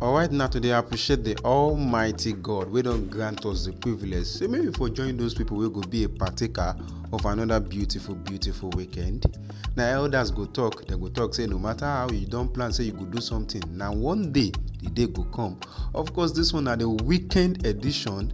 Alright, now today I appreciate the Almighty God. We don't grant us the privilege. So maybe for join those people, we go be a partaker of another beautiful, beautiful weekend. Now elders go talk, they go talk, say no matter how you don't plan, say you go do something. Now one day the day go come. Of course, this one are the weekend edition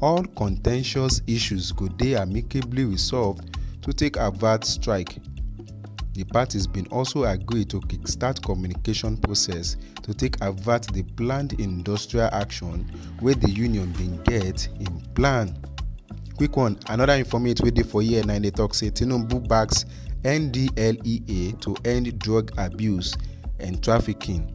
all contentious issues go dey amicably resolved to take avert strike. Di parties bin also agree to kickstart communication process to take avert di planned industrial action wey di union bin get in plan. Quick one, another informate wey dey for here na dey talk say Tinubu backs NDLEA to end drug abuse and trafficking.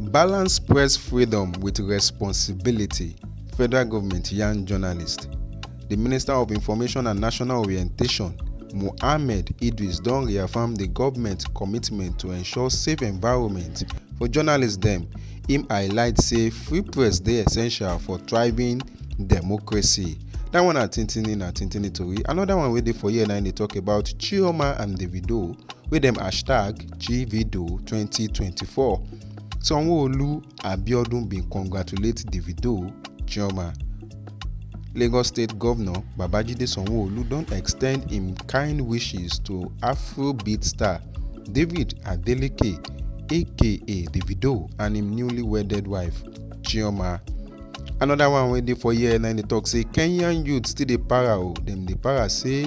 Balance press freedom with responsibility, Federal Government yarn journalists. The Minister of Information and National Orientation, Mohammed Idris don reaffirm the government commitment to ensure safe environment for journalists dem. Im highlight say free press dey essential for thriving democracy. That one na tintini na tintini tori. Another one wey dey for here na im dey talk about Chioma and Davido wey dem hashtag Chivido 2024. Sanwo-Olu Abiodun bin congratulate Davido, Chioma. Lagos State Governor Babajide Sanwo-Olu don extend im kind wishes to Afrobeat star David Adeleke aka Davido and im newly wedded wife, Chioma. Anoda one wey dey for here na dey tok say Kenyan youth still dey para o, dem dey para say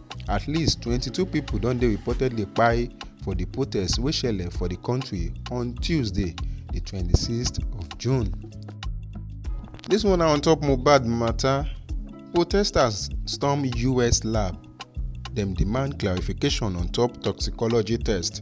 At least 22 pipo don dey reportedly kpai for di protests wey shele for di kontri on Tuesday, di 26th of June. Dis one na on top Mohbad mata, protesters storm US lab, dem demand clarification on top toxicology test.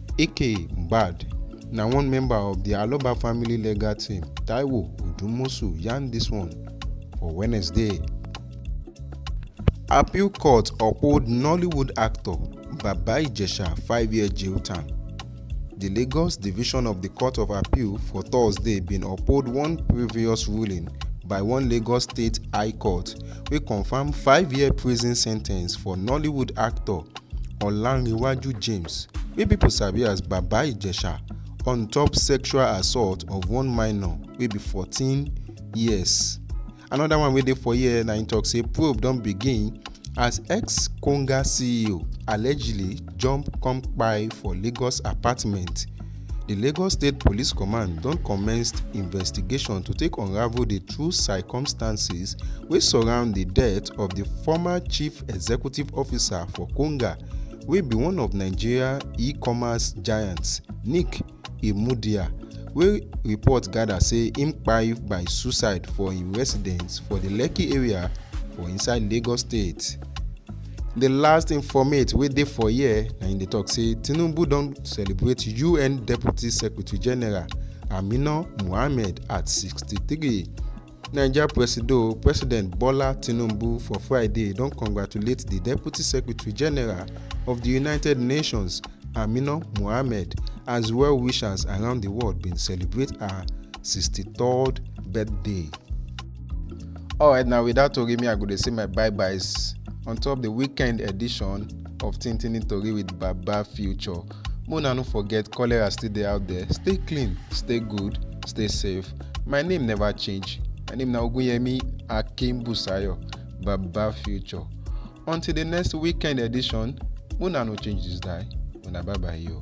Ike Mbad na one member of di Aloba family legal team, Taiwo Odumosu yarn dis one for Wednesday. Appeal court uphold Nollywood actor Baba Ijesha five-year jail term. Di Lagos Division of di Court of Appeal for Thursday bin uphold one previous ruling by one Lagos State High Court wey confam five-year prison sentence for Nollywood actor olanrewaju james wey pipo sabi as baba ijesha on top sexual assault of one minor wey be 14 years anoda one wey dey for here na im tok say probe don begin as ex konga ceo allegedly jump come kpai for lagos apartment di lagos state police command don commenced investigation to take unravel di true circumstances wey surround di death of di former chief executive officer for konga wey be one of nigeria e-commerce giants nick imudia wey report gather say im kpai by suicide for im residence for di lekki area for inside lagos state. di last informate wey dey for here na im dey tok say tinubu don celebrate un deputy secretary general amina mohammed at 63. naija presido president bola tinubu for friday don congratulate di deputy secretary general of di united nations amina mohammed as well wishers around di world bin celebrate her 63rd birthday. alright na without tori me i go dey say my bye byes on top di weekend edition of tintini tori with baba future Make una no forget cholera still dey out there. Stay clean, stay good, stay safe. My name never change. My name na Ogunyemi Akinbusayo, Baba Future. Until the next weekend edition, una no change this die. Una bye bye yo.